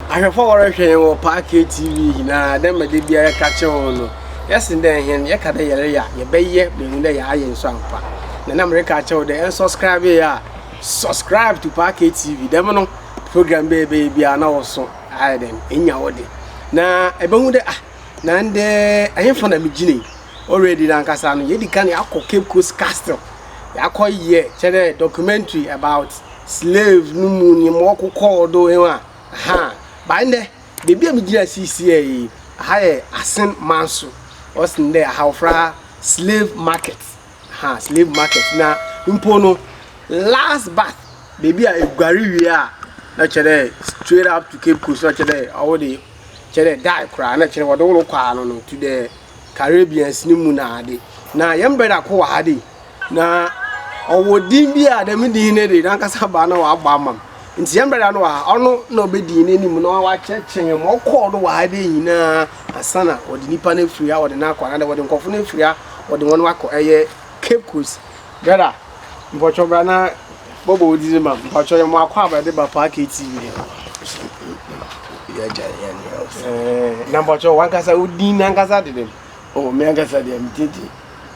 Ahwɛfo a wɔrohwɛ hɛn wɔ Parkay TV nyinara, dɛ mbrɛ da biara yɛka kyerɛ hɔn no, yɛse dɛ hɛn yɛka dɛ yɛreyɛ a, yɛbɛyɛ ma ehu dɛ yɛayɛ so ampa. Na nna mereka akyerɛ wo dɛ ennsɔskrabee a, subscribe to Parkay TV, dɛm no, program biara yɛbɛyɛ biara na wo so ayɛ dɛn, enya wo de. Na ebɛhu dɛ, ah, na ndɛ henfa na migyina yi? Already no ankasa no, yedzi kan yɛakɔ Cape Coast Castle, yɛakɔyɛ, kyerɛ dɛ documentary about, slave no mu ne ma ɔkokɔɔ do he a, ahaa. But ndɛ, beebi a megyina siisiei yi, ha yɛ Asen manso, ɔse ndɛ aha wɔfrɛ ha slave market, ahaa, slave market. Na mpo no, last bath, beebi a eguar wie a, na kyerɛ dɛ straight up to Cape Coast, na kyerɛ dɛ ɔwo de, kyerɛ dɛ die koraa, na kyerɛ dɛ wɔde wo rokɔ ano no to the Caribbeans no mu na ade. Na yɛn brɛda ko wɔ ha de, na ɔwɔ din bi a dɛm din no de n'ankasa baa na wabɔ ama m. Nti yɛn brɛda no wɔ ha, ɔno na ɔbɛdii n'anim na wakyerɛkyerɛ yɛn ma ɔkɔɔ do wɔ ha dɛ nyinaa ansa na wɔde nipa no afiri ha wɔde no akɔ anaadɛ wɔde nkurɔfo no afiri ha wɔde wɔn akɔ ɛyɛ Cape Coast. Brɛda, Mpɔtɔ bra na bɔbɔ wo didi ma mpɔtɔ yɛ mo akɔ aba de ba paa KTV de ba. Yɛ gya yɛ ne yɛ ɔsɛ. Ɛɛ na mpɔtɔ wankasa wo din na ankasa de den. Oh me ankasa de me din de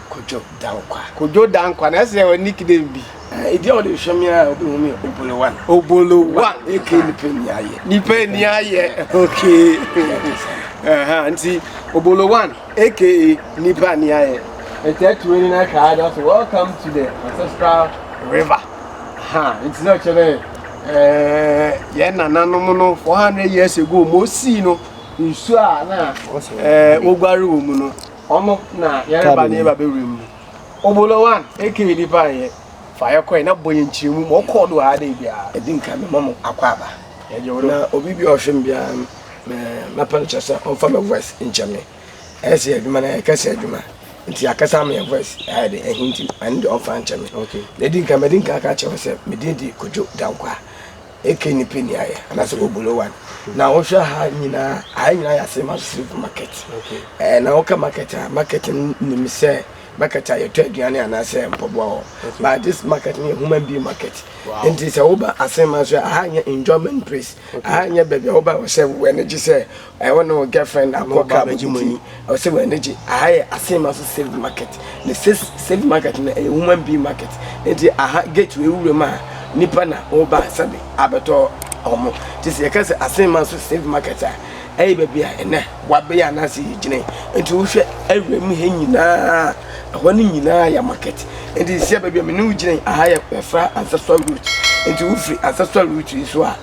Kojo Dankwa. Kojo Dankwa na ɛsɛ wɔ nickname bi. Ɛɛ edi a wɔde hwɛ me a obi hu me Obolo One. Obolo One. Eke nipa ni ayɛ. Nipa ni ayɛ. Okay. Ɛhɛn nti Obolo One. aka nnipa ani ayɛ. Nti ɛto ani na hwɛ ade ɔsɛ welcome to the ancestral river. Ha nti na ɔkyerɛ dɛ ɛɛ yɛn nananom no four hundred years ago mo sii no nsuo a na ɛɛ woguare wɔ mu no ɔno na yɛreba ne yɛba bɛwura mu. Obolo one aka nnipa ayɛ fa yɛ kɔɛ na bɔ yɛn kyerɛ mu ma ɔkɔɔ do ha dɛ biara. Ɛdi nka mɛma mo akɔ aba. Na obi bi ɔhwɛ m biara no. Me mɛpɛ no kyerɛ sɛ ɔmfa me voice nkyɛ me ɛyɛ sɛ adwuma no ɛyɛ kɛse adwuma nti akasa ama yɛ voice ayɛ de ɛhe nti ɛno deɛ ɔmfa nkyɛ me okay na ɛdi nka mɛdi nka ka kyerɛ sɛ medin di kodwo danko a ɛkɛ ni pɛ ni ayɛ anaasɛ ɔbulo one na wohwɛ ha nyinaa ayɛ nyinaa yɛ ase ma slave market ɛɛ na woka market a market nim sɛ market a yɛtɔ aduane anaasɛ mpɔboa hɔ but this market no yɛ human being market nti sɛ woba asɛm ma nso a ha nyɛ enjoyment place Aha nyɛ baabi a woba ɔsɛ w'ani gye sɛ ɛwɔ ne wo girlfriend akɔ club bi nti ɔsɛ w'ani gye. Aha yɛ Asenma so saved market. Ne sis saved market no ɛyɛ human being market nti aha gate wei wura mu a nipa na woba sɛbe abɛtɔ wɔn. Nti sɛ yɛka sɛ Asenma so saved market a ɛyɛ baabi a ɛnɛ wabɛyɛ anaasɛ yɛgyina yi. Nti wohwɛ awura mu ha nyinaa. ɛhɔ no nyinaa yɛ market nti nsia baabi a me ne wo gyina aha yɛ ɛfra ancestral route nti wo firi ancestral route yi so a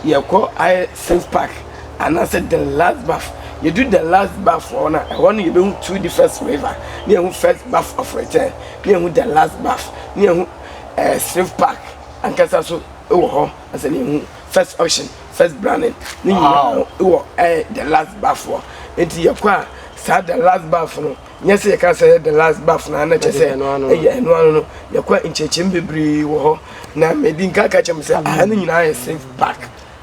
yɛkɔ ayɛ sense park anaasɛ the last bath yɛdu the last bath hɔ no a ɛhɔ no yɛbɛhu two different river ne yɛhu first bath of return ne yɛhu the last bath ne yɛhu ɛɛ eh, sense park ankasa so wɔ hɔ ɛsɛ ne yɛhu first auction first branding ne nyinaa wɔ ɛɛ eh, the last bath hɔ nti yɛkɔ a saa the last bath no Nyɛ sɛ yɛka sɛ the last bath na na kyɛ sɛ ɛyɛ ɛno ano no yɛkɔ nkyɛkyɛm bebree wɔ hɔ na medi nka ka kyɛm sɛ aha no nyinaa yɛ safe park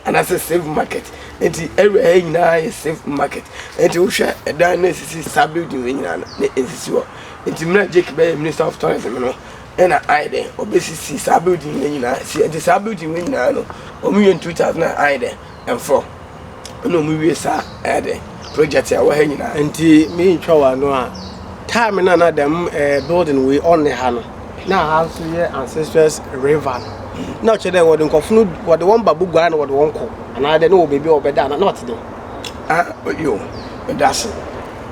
anaasɛ safe market nti ɛwura ha nyinaa yɛ safe market nti wohwɛ ɛdan na ɛsisi saa building wei nyinaa no na ɛsisi hɔ nti mmerɛ Jake bɛyɛ minister of tourism no ɛna ayɛ dɛ ɔbɛsisi saa building wei nyinaa si nti saa building wei nyinaa no ɔmo yɛ in 2000 ayɛ dɛ Mfɔ na ɔmo wie saa ɛyɛ dɛ project a ɛwɔ ha nyinaa. Nti mi ntwa wɔ ano a time na na dɛm ɛɛ building wei ɔne ha no na ha nso yɛ ancestors river no na ɔkyerɛ dɛ wɔde nkɔfo no wɔde wɔn ba boguare na wɔde wɔn kɔ anaa dɛ na wɔ baabi a wɔbɛda anaa na ɔte dɛ. Ah yo medase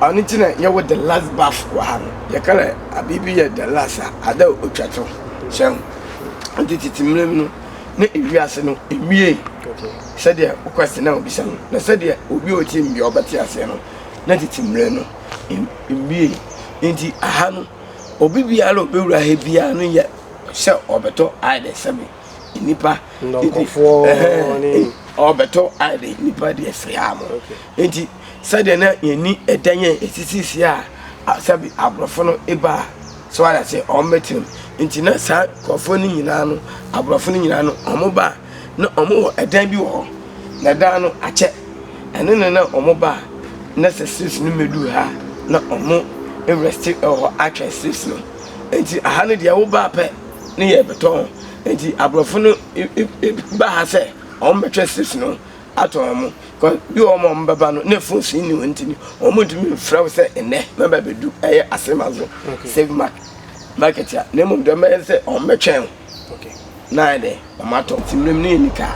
ɔno ti na yɛ wɔ the last bath wɔ ha no yɛ kala abibi yɛ the last a ada otwa to sɛm nti titi mmerɛ mu no. na ewi ase no emiee sɛdeɛ wo question na obisa no na sɛdeɛ obi a ɔtie mmea ɔbɛte aseɛ no na tete mmerɛ no emiee nti aha no obi biara ɔbɛwura ha biara no yɛ sɛ ɔbɛtɔ ayɛdɛ sɛbe nnipa ɔbɛtɔ ayɛdɛ nnipa deɛ firi ha mo nti sɛdeɛ na yɛni ɛdan yɛ ɛsisisi a sɛbe aborɔfo no ɛbaa So wate ase? Wɔbɛtena mu. Nti na saa nkurɔfoɔ no nyinaa no, aborɔfo no nyinaa no, wɔba a, na wɔwɔ ɛdan bi wɔ hɔ. Na ɛdan no, akyɛ. Ɛno na na wɔba a, na sɛ slaves no mmɛduu ha a, na wɔrɛste wɔ hɔ atwɛn slaves no. Nti aha no deɛ, woba pɛ ne yɛrebɛtɔn. Nti aborɔfo no ba ha sɛ wɔbɛtwɛn slaves no ato wɔn, because bi wɔ hɔ a wɔn bɛba no na phone so nni wɔn nti no wɔn ntumi mfrɛ wo sɛ nnɛ mɛba bɛdu ɛyɛ asema so save mark market a na mmom deɛ wɔbɛyɛ sɛ wɔn bɛtwɛn wo na ayɛ dɛ wɔn atɔ nti mmerɛ mu no yɛ nika.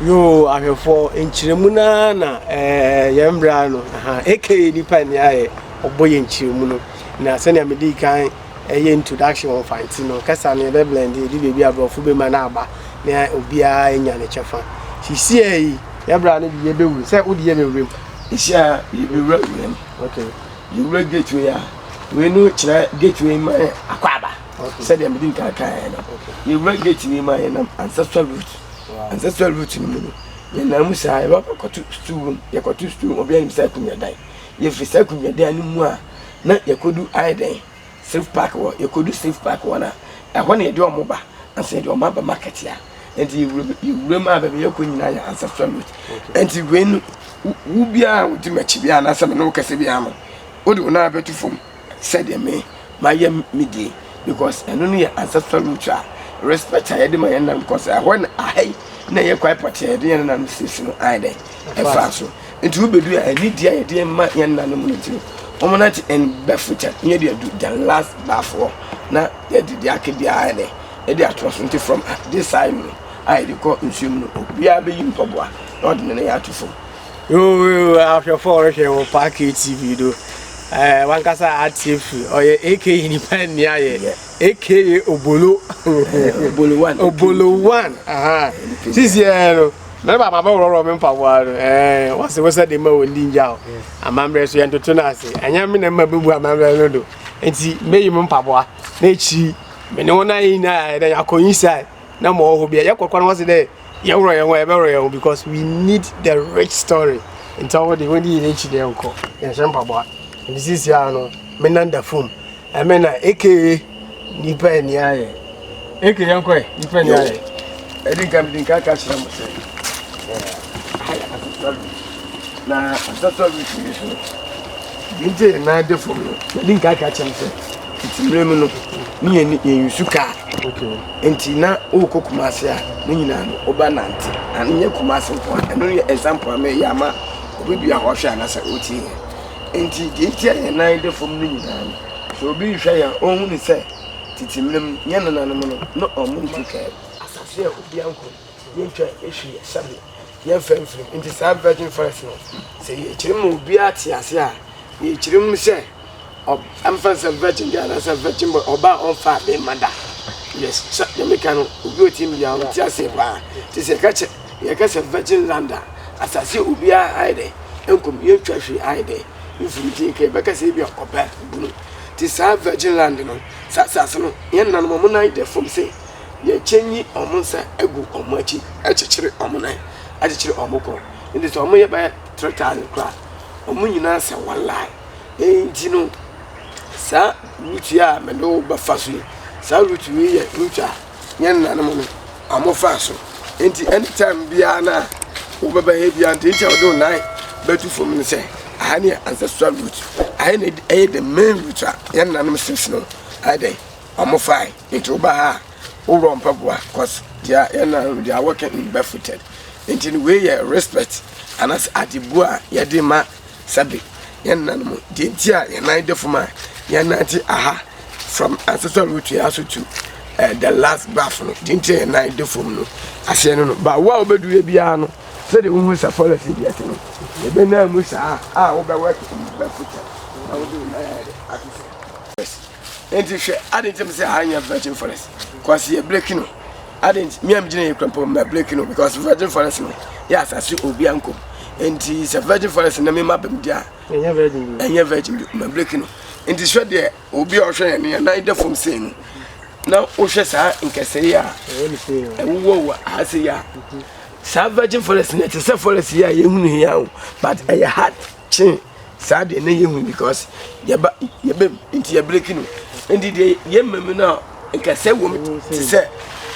Yoo ahwɛfoɔ nkyerɛmu no ara na ɛɛ yɛn mmerɛ no aha aka nipa ni ayɛ ɔbɔ yɛn nkyerɛmu no na sɛnea mede kan Ɛyɛ introduction wɔ Mfanti no kasa no yɛbɛ blend edu baabi a brɔfo bɛma no aba na obiara anya ne kyɛfa. Hyehyeɛ yi yɛbra no de yɛbɛwura sɛ wode yɛ bɛwura mu. Hyia yɛbɛwura wura mu. Okay. Yɛwura gateway a wei no kyerɛ gateway ma akɔ aba. Okay. Sɛdeɛ mede nkaa kaeɛ no. Okay. Yɛwura gateway mu a yɛnam ancestral root. Wow. Ancestral root no mu no yɛnam mu saa yɛbɛkɔto stool room yɛkɔto stool obiara nim sɛ akonnwa dan. Yɛfiri saa akonnwa dan no mu a, na yɛkɔdu ayɛ dɛn, Safe Park hɔ. Yɛkɔdu Safe Park hɔ no a, ɛhɔ na yɛde wɔn ba, ansa yɛde wɔn aba market a. Ɛnti yɛwura mu, yɛwura mu a, baabi a yɛkɔ nyinaa yɛ ancestral route. Ɛnti wei no, wo, wo biara a wodi m'akyi biara, anaasɛ me ne wo kasa biara no, wode wo nan bɛto fam. Sɛdeɛ me mayɛ me deɛ because ɛno no yɛ ancestral root a respect a yɛde ma yɛn nananom because ɛhɔ na aha yi na ɛyɛ kwae pɔtee a yɛde yɛn nananom siesie no ayɛ dɛn ɛfaa so nti wobɛdu a ɛni deɛ a yɛde ma yɛn nananom no nti no wɔn nante in barefootɛ na yɛde adu than last barefoɔ na yɛde deɛ aka biara ayɛ dɛn yɛde atoa so nti from this side no a yɛde kɔ nsuo mu no obiara bɛyi mpaboa na ɔde ne nan ato fam Yoo ahwɛfo a wɔhwɛ wɔ Park ATV do ɛɛ eh, wankasa atie fi ɔyɛ aka nipa nni ayɛ aka obolo obolo one sisi ɛɛ no mɛ bàbá bɛ wɔrɔrɔ mi mpaboa no ɛɛ wɔsi wɔsɛ de ma wɔn di ngya o amammerɛ so yɛn toto no ase ɛnyɛ mi na mma bɛ bu amammerɛ no do nti mɛ yi mi mpaboa n'ekyi mɛ ne wɔn ayɛ nyinaa yɛ dɛ yɛ akɔ inside na mɔ ɔhɔ bi yɛ kɔkɔ na wɔsi dɛ. Yɛworɔ yɛn ho a yɛbɛworɔ yɛn ho because we need the rich story. Nti ɔwɔ de wɔn di yɛn akyi na yɛnkɔ yɛn hyɛ mpaboa. Nti sisi a no me nan da fam. Ɛmɛ na aka nipa ani ayɛ. Aka yɛn kɔ ɛ nipa ani ayɛ. Ɛdi nka mi di nka aka kyerɛ mo sɛ. Na asasa bi fi so. Nti yɛn nan da fam no. Ɛdi nka aka kyerɛ mo sɛ. Nti mmerɛ mu no ne yɛn yɛn yusu kaa. Okay. Nti na wokɔ Kumasi a, ne nyinaa no woba nante. Na nyɛ Kumasi nko a, ɛno yɛ example a meyɛ ama obi bia ɔhwɛ anasɛ ɔtie yɛn. Nti deɛ nti a yɛn nan da fam no nyinaa no, sɛ obi rehwɛ yɛn a, ɔhu ne sɛ tete mmerɛ mu yɛn nananom no, na ɔmo ntwitwa asase a obi anko, yɛntwa hwee sɛbe, yɛmfa mfirim. Nti saa virgin forest no, sɛ yɛkyerɛ ma obiara te ase a, yɛkyerɛ mu sɛ. ɔ ɛmfa no sɛ virgin girl anaasɛ virgin boy ɔbaa a ɔmfaa bɛrima da yes sɛ deɛ meka no obi ɔte mu biara ɔte aseɛ paa nti sɛ yɛka kyɛ yɛka sɛ virgin land a asase obiara ayɛ dɛ nkom yɛntwa hwee ayɛ dɛ mfiri nti nka yɛbɛka sɛ ebi a ɔbɛ bunu nti saa virgin land no saa asase no yɛn nanom ɔmo nan dɛ fam sɛ yɛkyɛ nyi ɔmo nsa agu ɔmo akyi akyekyere ɔmo nan akyekyere ɔmo kɔ nti sɛ ɔmo yɛ bɛyɛ three thousand koraa ɔmo nyinaa sɛ one line Enti no, saa Rut yi a me ne wo bɛfa so yi, saa Rut yi yɛ Rut a yɛn nananom no wɔfaa so. Enti anytime biara na wobɛba ha biara nti nti a wɔde wo nan bɛto fam no sɛ aha ne yɛ ancestral Rut. Aha ne ɛyɛ the main Rut a yɛn nananom sisi no ayɛ dɛ wɔfae. Enti woba ha a wowura mpaboa cause they are yɛn nananom they are working in barefooted. Enti no wei yɛ respect anaasɛ adebu a yɛde ma sɛbe yɛn nananom deɛ nti a yɛn nan de fam a yɛnante aha from ancestral root yɛ aso to uh, the last bath no deɛ nti a yɛn nan de fam no aseɛ no no ba wo a wobɛdu yɛ biara no sɛdeɛ wohu sɛ forest bi ɛte no yɛbɛnaa mu saa a wobɛwɔ bɛfuta na wode wo nan ayɛ ato so nti hwɛ ade ntam sɛ ha nyɛ virgin forest kwasi yɛ breki no Adɛn nti? Me a megyina yi kora mpo mɛbreki no because virgin forest no yɛ asase obia nkom nti sɛ virgin forest na mema bam di a ɛnyɛ virgin bi ɛnyɛ virgin bi mɛbreki no nti hwɛ deɛ obi a ɔhwɛ yɛn no yɛn nan da fam sei no na wohwɛ saa nkɛsɛe yi a ɛwowɔ wɔ ha sei a saa virgin forest no ɛte sɛ forest yi a yɛhunu yi a o but ɛyɛ hard kye saa deɛ na yɛhu because yɛba yɛbɛm nti yɛbreki no nti deɛ yɛma mu no a nkasɛ wɔ mu te sɛ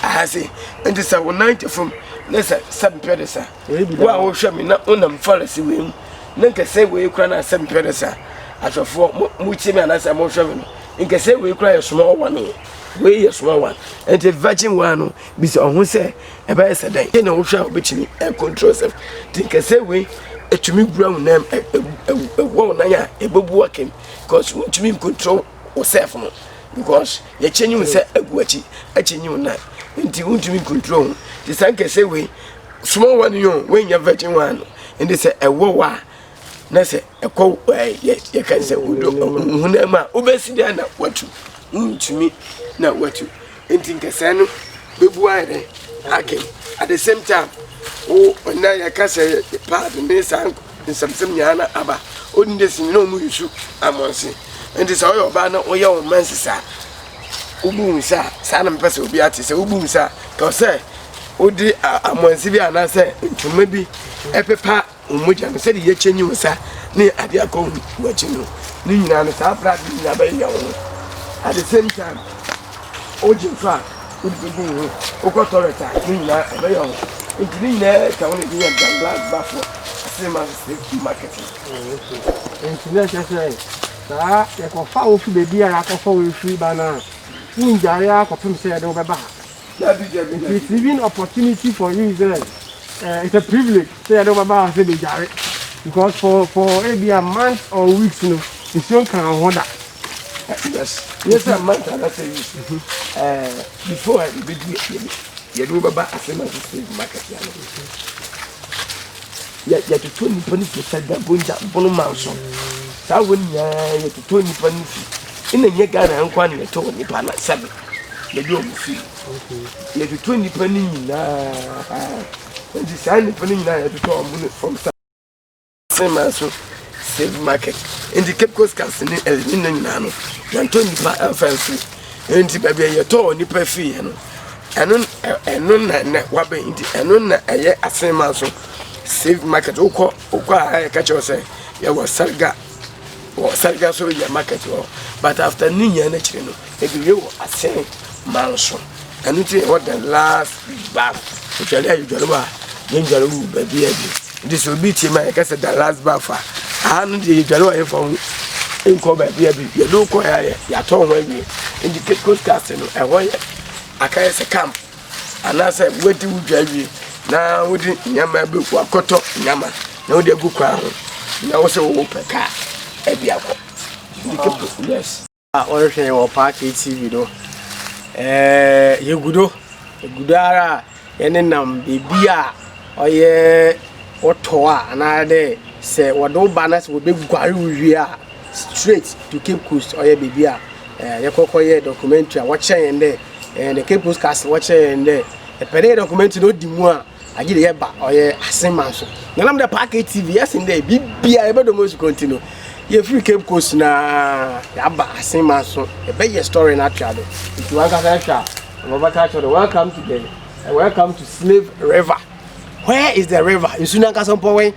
aha se nti sɛ wo nan te fam ne sɛ sɛ mpɛ de sa wo a wohwɛ me na wonam forest wei mu na nkasɛ wei kora no a sɛ mpɛ de sa ahwɛfoɔ motie me anasɛ mohwɛ me no nkasɛ wei kora yɛ soma ɔwane wei yɛ soma wan nti virgin one no bisa ɔho sɛ Ɛbɛyɛ sɛ dɛn? Sɛnea wohwɛ a wobɛtumi akontrol sɛm nti nkɛsɛ wei ɛtumi wura wo nam ɛwɔ wo nan a ɛbɛbu wakem because wontumi nkontrol wo self no because yɛkyɛ nyi wo sɛ agu akyi akyɛ nyi wo nan nti wontumi nkontrol ho nti saa nkɛsɛ wei small one yo woanya virgin one no ɛnde sɛ ɛwɔ wo a Na sɛ ɛkɔ yɛka sɛ wodɔ honam a wobɛsi dɛn na watu wontumi na watu nti nkɛsɛɛ no bɛbu ayɛ dɛn akem at the same time wo ɔna yɛka sɛ paad ne saa nsɛmsɛm nyinaa na aba wodin de sini na ɔmu yusu amɔnse nti sɛ woyɛ ɔbaa na woyɛ wo mma nsesaa wobu hu sɛ saa na mepɛ sɛ obi ate sɛ wobu hu sɛ ka sɛ wode amɔnse bi anaasɛ ntoma bi ɛpepa Wɔn mogya no, sɛdeɛ yɛkyɛ nyi wo sa ne adeɛ akɔ wo akyi no, ne nyinaa no, saa berɛ adeɛ nyinaa bɛyeyɛ wo ho. At the same time, wogye nso a, wode bɛgu wo ho. Wokɔ toilet a, ne nyinaa ɛbɛyɛ wo ho. Nti ne nyinaa ka wo ne deɛ yɛ Dallas bafoɔ asema safety marketing. Nti na ɛkyɛ sɛ saa yɛkɔfa wo fi baabiara akɔfa wo mfiri ba no a, wongyae ara kɔpem sɛ yɛde wo bɛba ha. Receiving opportunity for you sɛ eh, it's a privilege sɛ yɛde wobɛba ha sɛ bɛdware because for for ebi a month or weeks no nsuo nka wo ho da yes yɛ sɛ month anasɛ weeks mhm. eh, before a bɛdu yɛde wobɛba asɛm ase slave market ya no yɛtoto nnipa no fi sɛ dabonja bono ma nso saa wɔ nyinaa yɛtoto nnipa no fi ɛna nyɛ ghana nkoa ne yɛtɔ wɔ nnipa no sɛbe mede wɔn fi yɛtotɔ nnipa no nyinaa nti saa nnipa no nyinaa yɛtotɔ wɔn no fam sa sema so save market nti cape coast cars ne ɛne no nyinaa no yɛntɔ nnipa ɛmfa mfiri nti baabi a yɛtɔ wɔn nnipa fiiɛ no ɛno ɛno na na wabɛn nti ɛno na ɛyɛ asema so save market wokɔ wokɔ a ɛka kyerɛ sɛ yɛwɔ sarga wɔ Sarika so yɛ market hɔ but after ne nyinaa n'akyiri no ebi wie wɔ asen man so ɛno ti ɛwɔ the last back otwale a yɛdwale wɔ a yɛndwale wɔ baabi a bi nti sɛ obi tie ma yɛka sɛ the last back a aha no deɛ yɛdwale wɔ yɛmfa ho nkɔ baabi a bi yɛde wokɔ yɛ ayɛ yɛatɔ ho awie nti cape coast castle no ɛhɔ yɛ akayɛ sɛ camp Anaasɛ woadi wo dwa awie na wode nneɛma bi wakɔtɔ nneɛma na wode agu kwan ho na wo sɛ wopɛ kaa ɛde akɔ. Yes. a ɔrehwɛ yɛ wɔ Park ATV do ɛɛ yɛgu do yɛgu do ara a yɛne nam baabi a ɔyɛ wɔtɔ a anaadɛ sɛ wɔde wo ba na sɛ wɔbɛguare wo wie a Straight to Cape Coast ɔyɛ beebi a eh, yɛkɔ kɔ yɛ documentary a wɔkyerɛ yɛn dɛ eh, the Cape Coast Castle wɔkyerɛ yɛn dɛ ɛpɛ dɛ yɛ documentary na odi mu a agye de yɛba ɔyɛ aseman so na nam dɛ Park TV yɛsen dɛ biribi a yɛbɛdɔ mu nsukɔ nti no yɛfiri Cape Coast na yɛaba aseman so yɛbɛyɛ story no atoa do nti wankasa hwɛ a wɔbɛka kyerɛ dɛ welcome to the eh, welcome to Slave River where is the river nsu no ankasa mpɔwɛn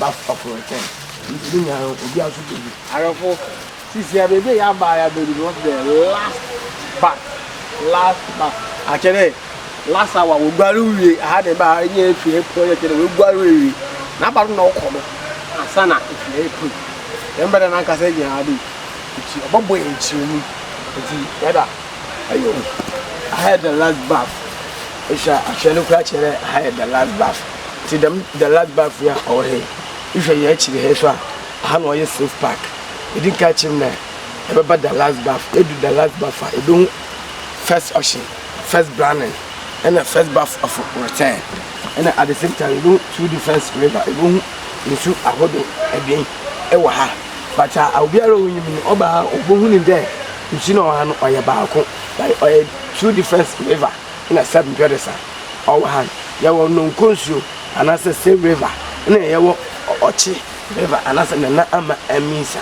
Baako aforo return nti ne nua no obiara nso bɛ wu. Awɛfo sisi ya baabi a yɛ aba yɛ abɛ duru wɔn sɛ dɛ last bath last bath akyɛ dɛ last hour wɔ guare wie aha dɛ ba yɛ yɛ fi yɛ pɔ yɛ kyɛ dɛ wɔ guare wie na aba do na ɔkɔ do asana efi yɛ pɔ yɛ mbɛ dɛ na nkasa yɛ gyina ha dɛ nti ɔbɛ bɔ yɛ nkyerɛ mu nti yɛ da ayo aha yɛ dɛ last bath ehwɛ ahwɛ no kura kyɛ dɛ aha yɛ dɛ last bath. Ntsi dɛm Dallas Bafo yi a ɔwɔ ha yi, ehwɛ hɛn ekyir ha yi so a, ha na ɔyɛ Safe Park. Edzi kan kyerɛ mu dɛ ebɛba Dallas Bafo, edu Dallas Bafo a, ibohu First Ocean, First Brannan, na First Bafo of Return. Nna at the same time ibohu two different river, ibohu nsu ahodow ebien wɔ ha. But a obiara a onyim no, ɔba ha a obohu no dɛ nsu no a ɔwɔ ha no ɔyɛ baako, but ɔyɛ two different river. na Sep Mpɛrɛsa. Ɔwɔ ha no, yɛwɔ Nonko nsuo anaasɛ Save River na yɛwɔ Ɔkye River anaasɛ Nana Ama Aminsa.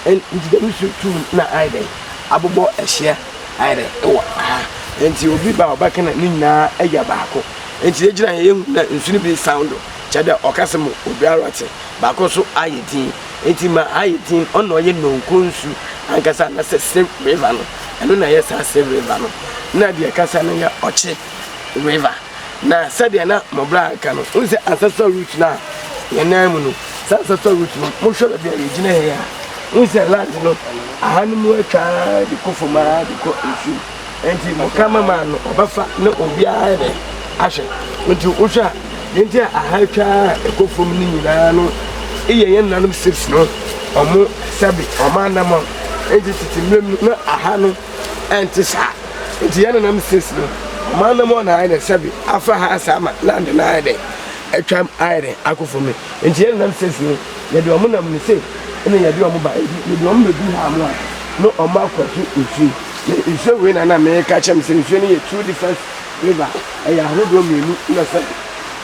Nti dɛm nsuo tum na ayɛ dɛn abobɔ ahyia ayɛ dɛ wɔ ha. Nti obi ba a ɔbɛka na ne nyinaa ayɛ baako. Nti yɛgyina ha yɛhu na nsuo no bi soundo kyerɛ dɛ ɔkasa mu obiara te, baako nso ayɛ din. Enti ma ayɛ din, ɔno na ɔyɛ Nonko nsu ankasa, anaasɛ Sir River no, ɛno na ɛyɛ saa Sir River no. Na deɛ ɛkasa no yɛ Ɔkye River. Na sɛdeɛ na Mobra reka no, wohu sɛ ancestral root no a yɛn nan mu no, saa ancestral root no, mohwɛ baabi a yɛgyina ha yi a, wohu sɛ land no, aha no mu atwa ara de kɔ fam ara de kɔ nsu mu. nti mo cameraman no ɔbɛfa ne obiara ayɛ dɛ ahwɛ nti wohwɛ a deɛ nti a aha atwa a ɛkɔ fam no nyinaa no yɛ yɛn nanom safes no ɔmo sɛbe ɔmo anamɔ nti tete mmerɛ mu na aha no ɛnte saa nti yɛn nanam safes no ɔmo anamɔ na ayɛ dɛ sɛbe afa ha asa ama land no ayɛ dɛ atwa ayɛ dɛ akɔ fam no nti yɛn nanam safes no yɛde ɔmo nam no se ɛna yɛde ɔmo ba nti yɛde ɔmo bɛdu ha mo a na ɔmo akɔto nsuo Me nsuo wei na na meka kyɛm sɛ nsuo no yɛ two different flavor ɛyɛ ahodoɔ mmienu na sɛ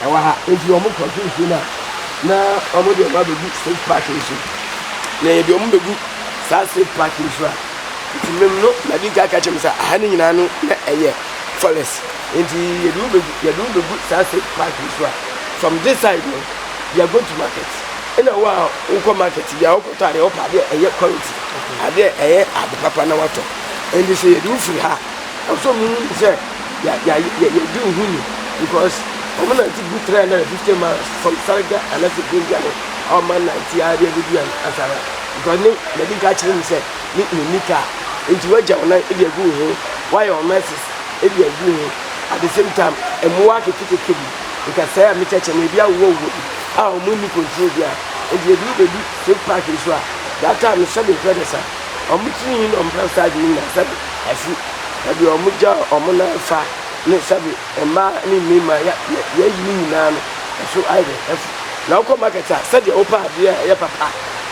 ɛwɔ ha nti wɔn kɔto nsuo no a na wɔn deɛ wɔn abɛgu safe pack nso na yɛ deɛ wɔn bɛgu saa safe pack nso a nti mem no na di nka ka kyɛm sɛ aha no nyinaa no na ɛyɛ forest nti yɛde wo bɛgu yɛde wo bɛgu saa safe pack nso a from this side no yɛ go to market ɛna wo a wokɔ market bi a wokɔtɔ adeɛ wopɛ adeɛ ɛyɛ quality Ade a ɛyɛ ade papa na watɔ. Enti sɛ yɛde wo firi ha a, ɛsɛ sɛ ɔmo hu sɛ yɛdi wo ho ni because ɔmo nante gu three hundred and fifty miles from Salga ana fi Gunjani a ɔmo anante ara de abedu yɛn asa ha because ne na di ka kyerɛ me sɛ ne ne ni kaa enti wagya wo nan de agu wo ho wayɛ ɔmo ɛsis de agu wo ho at the same time mmoa ketekete bi nkasɛɛ a mekyɛkyɛ na ebi awowɔ wuo bi a ɔmo ni control bi a enti ebi wobɛdu State park nso a that time no sɛbi hwɛ ne sa ɔmo tiri nwi na ɔmo fa start de nyina sɛbi afu ɛbi ɔmo gya ɔmo nan fa ne sɛbi mmaa ne mmarima ya ya yayi ne nyinaa no ɛso ayɛ dɛ afu na ɔkɔ market a sɛdeɛ ɔpɛ adeɛ a ɛyɛ papa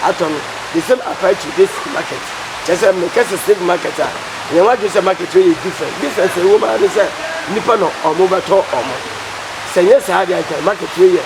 atɔ no the same apply to this market kyɛ sɛ mekɛ sɛ state market a yɛn ho adwene sɛ market yɛ different different ɛwɔ mu ara ne sɛ nipa na ɔmo bɛtɔ ɔmo sɛ nyɛ saa deɛ anka market yɛ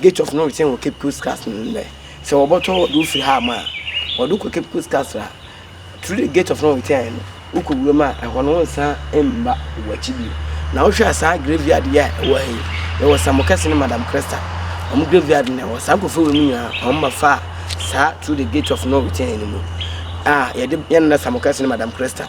Gate of no return wɔ Cape Coast Castle no ndɛ. Sɛ wɔbɔtɔ wɔdze wo fir ha ma a, wɔdze wo kɔ Cape Coast Castle a, through the Gate of no return no, wokɔ wura mu a, hɔn wonnsan mmba w'akyi bio. Na wohwɛ a saa graveyard yi a ɛwɔ ha yi, yɛwɔ Samuel Kɛse na Madam Cresta, hɔn graveyard no na ɛwɔ ha. Saa nkorɔfo wei mu nyina, hɔn ba faa saa through the Gate of no return no mu a yɛdze yɛn Nana Samuel Kɛse na Madam Cresta,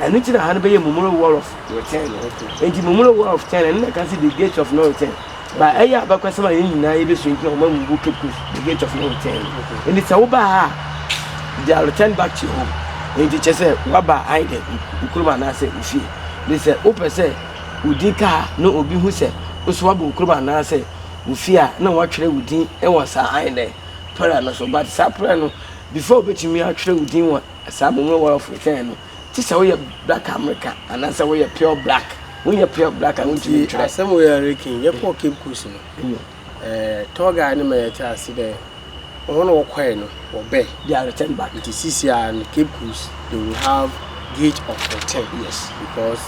Ɛno nti na ha no bɛyɛ Mumuro Wall of Return no. Nti Mumuro Wall of Return, ɛno na ɛka sɛ The Gate of No Return. Ba ɛyɛ abakɔsɛm a yɛn nyinaa yɛbɛsua nti na wɔma mu bu Cape Coast The Gate of No Return no. Nti sɛ woba ha a, they are returned back to your home. Nti kyɛ sɛ woaba either wo kurom anaasɛ wo fie. Nti sɛ wopɛ sɛ wo din ka ha na obi hu sɛ wo nso woaba wo kurom anaasɛ wo fie a, na wɔatwerɛ wo din wɔ saa either pɛrɛ no so. But saa pɛrɛ no, before wobɛtumi atwerɛ wo din wɔ Saa Mummy War of Return no, gye sɛ woyɛ Black American anaasɛ woyɛ Pure Black. Wonyɛ Pure Black a, wontumi ntwerɛ. Nti asɛm wei a yɛreka yi, yɛkɔɔ Cape Coast no, ɛɛ tour guide no ma yɛtee ase dɛ wɔn a wɔkɔe no, wɔbɛ. They are returned back. Nti sisi a no, Cape Coast, they will have gate of return. Yes. Because.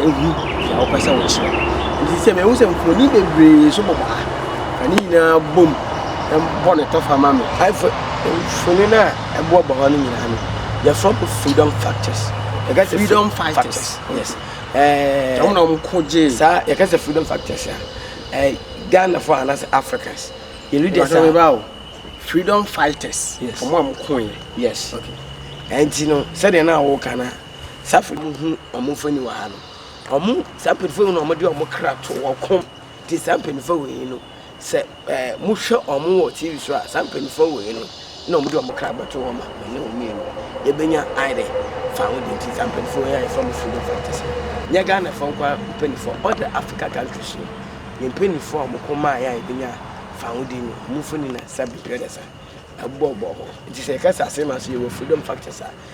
ɛhu deɛ wopɛ sɛ wokyerɛ nti sɛ mehu sɛ mfoni bebree nso bobɔ ha na ne nyinaa bom bɔ ne tɔfa ma me afo mfoni no a ɛboɔbɔ hɔ no nyinaa no yɛfrɛ mo freedom factors yɛka sɛ freedom fighters yes ɛɛ wɔn na wɔn ko gye saa yɛka sɛ freedom factors a ɛɛ ghana fo anaasɛ africans yɛ leaders a freedom fighters yes wɔn a wɔn ko yɛ yes okay ɛnti no sɛdeɛ na wɔka na Safo no hu wɔn mfoni wɔ ha no. Wɔn saa mpanyinfoɔ yi na wɔde wɔn kra to wɔn kɔn ti saa mpanyinfoɔ wɔ yi no sɛ ɛɛ mohwɛ wɔn wɔ tv so a saa mpanyinfoɔ wɔ yi no na wɔde wɔn kra bɛto wɔn ma wɔne wɔn mmienu yɛbɛnya ayɛ dɛ fa ho de nti saa mpanyinfoɔ yi a yɛfrɛ mo freedom fighters no nyɛ Ghana fɔ nkwa mpanyinfoɔ ɔdɛ Africa countries no yɛn mpanyinfoɔ a wɔn kɔn maa yɛn a yɛbɛnya fa ho de no wɔn mfoni na sa biribi ɔdɛ sa ɛbɔbɔ hɔ nti sɛ yɛka sɛ asɛm a so yɛwɔ freedom fighters a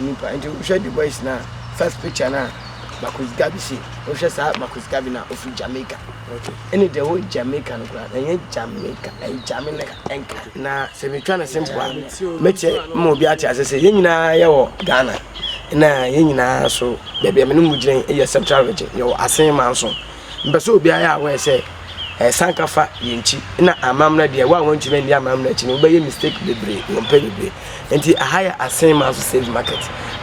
nnipa nti wohwɛ Du Bois no a first picture no a Marcus Garvey si wohwɛ saa Marcus Garvey no a ɔfiri Jamaica ɛne the whole Jamaica no koraa ɛnyɛ Jamaica ɛyɛ Jamaica ɛnka na sɛ metwa no simple a mɛkyɛ ma obi ate ase sɛ yɛn nyinaa yɛwɔ Ghana na yɛn nyinaa so baabi a mene mu gyina yɛ Central Region yɛwɔ Asen Manso Mpɛ sɛ obiara yɛ aware sɛ ɛsan ka fa yɛn akyi na amammerɛ deɛ wo a wɔntumi nni amammerɛ akyi no wobɛyɛ mistake bebree wɔ mpɛ bebree nti aha yɛ asen ma nso save market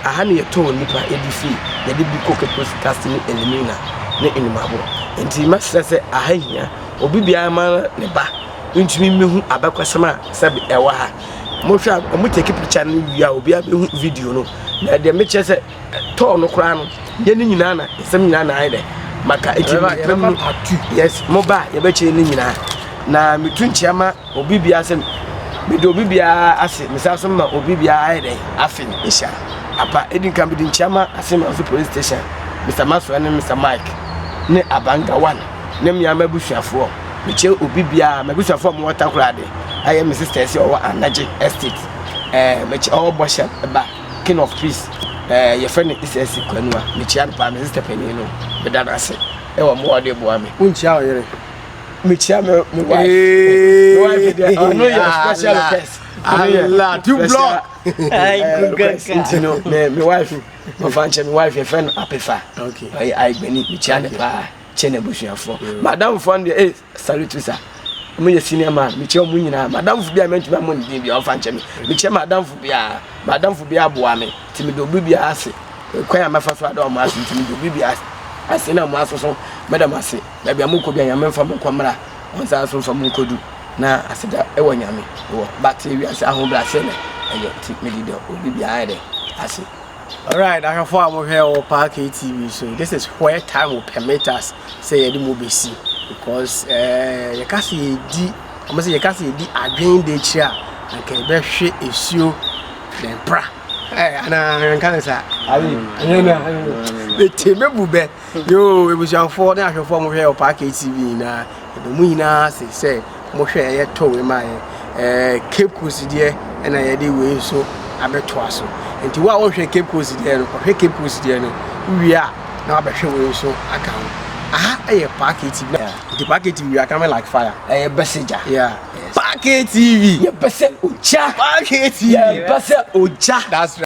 aha no yɛ tɔɔ nipa ɛdi fee yɛde bi kɔ kekos cast ne elimina ne enumabo nti mɛsrɛ sɛ aha hia obi biara ma ne ba ntumi mehu abɛkɔsɛm a sɛbe ɛwɔ ha mohwɛ a ɔmo take picture no wie a obiara bɛhu video no na ɛdeɛ mekyerɛ sɛ ɛtɔɔ no koraa no yɛ ne nyinaa na nsɛm nyinaa na ayɛ dɛ maka ɛti mmerɛ mu yes mo ba yɛbɛkyɛ ne nyinaa na metu nkyea ma obi biara sɛ mede obi biara ase mesa so ma obi biara ayɛ dɛ afe no ɛhyia apa ɛdi nka mede nkyea ma ase ma so police station mr masoa ne mr mike ne abanga one ne mmea ma abusuafoɔ mekyɛ obi biara ma abusuafoɔ a mowɔ takorade ayɛ me sister ɛsɛ ɔwɔ anagye estate ɛɛ mekyɛ ɔwɔ bɔhyɛ ba king of trees ɛɛ yɛfrɛ no ics kwanua mekyia no paa me sista panin no meda no ase ɛwɔ mmoa ɔde boa me wonkyia wo yere mekyia me me wife me wife deɛ ɔno yɛ special request ɔno yɛ two block request nti no me me wife ɔfa nkyɛ me wife yɛfrɛ no apefa ɔyɛ ayigbani mekyia no paa kyɛ n'abusuafoɔ madamfoɔ no deɛ Salutusa. Ɔmo yɛ senior man. Mekyia ɔmo nyinaa. M'adamfo bi a mɛntumi ammɔ ne din bi a ɔfa nkyɛ me. Mekyia m'adamfo biara. M'adamfo biara boa me. Nti meda obi biara ase. Kwan a mɛfa so ada ɔmo ase nti meda obi biara ase na ɔmo aso so mɛda mo ase. Baabi a mokɔ biara Nyame mfa mo nkɔ mmra. Ɔnsan so mfa mo nkɔdu. Na aseda wɔ Nyame wɔ. But wiase ahobrɛaseɛ na ɛyɛ nti mede da obi biara dɛ ase. Alright ahwɛfoɔ a mo hwɛ wɔ Parkay TV so this is where time will permit us sɛ yɛde mo bɛsi because ɛɛ yɛka sɛ yɛdi wɔn sɛ yɛka sɛ yɛdi adwene de akyire a anka yɛbɛhwɛ esuo na ɛpra ɛɛ anaa nka ne saa ayi ɛnyɛ na ɛte me bu bɛ. Yoo ebusuafoɔ ne ahwɛfoɔ a mohwɛ Ɔpaa KTV nyinaa yɛdɔ mo nyinaa ase sɛ mohwɛ ɛyɛ tɔ wei ma yɛn ɛɛ Cape Coast deɛ ɛna yɛde wei nso abɛtoa so nti wo a wohwɛ Cape Coast deɛ no kɔhwɛ Cape Coast deɛ no wowie a na wabɛhwɛ wei nso aka ho aha ɛyɛ Paa KTV nti Paa KTV we are coming like fire ɛyɛ bɛsɛ gya yeah Paa KTV yɛ bɛsɛ ogya Paa KTV yɛ bɛsɛ ogya that's right.